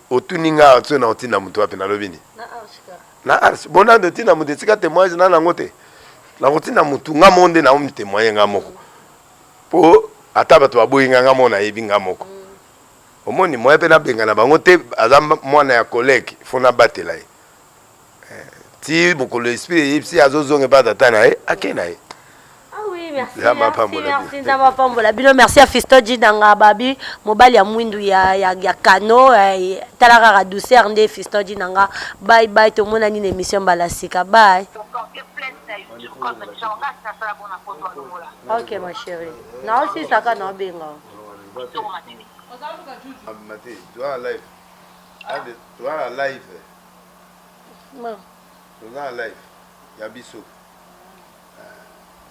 [SPEAKER 2] otuni nga so nakotinda moto wapi nalobi nini na arche bo nani totinda moto esika témoignage nani yango te nakotinda motu nga moko nde naomi témoigne nga moko mpo ata bato baboyi nga nga moko nayebi nga moko omoni moyen mpe nabengana bango te aza mwana ya collègue fo nabatela ye eh, ti mokolo esprit eyebisi azozonga epa tata na ye ake na ye
[SPEAKER 1] nzambe apambola bino merci ya fisto jidanga babi mobali ya mwindu ya, ya, ya kano eh, tala kaka douceur nde fisto jidanga bye bye tomona nini émission mbala sika bye ok ma chérie naosisaka naobenga
[SPEAKER 2] ya biso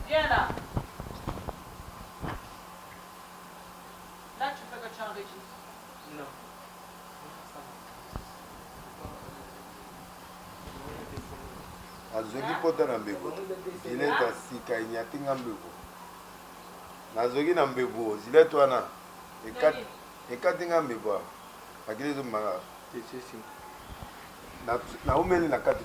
[SPEAKER 2] Viens là. Là, tu fais
[SPEAKER 1] que tu
[SPEAKER 2] enregistres.
[SPEAKER 3] Non.
[SPEAKER 2] azwaki mpota na mbeko dineta sika enyati nga mbeko nazoki na mbebu oyo zilete wana ekati ekati nga mbebu awa makili ezobima kaka naumeli na kati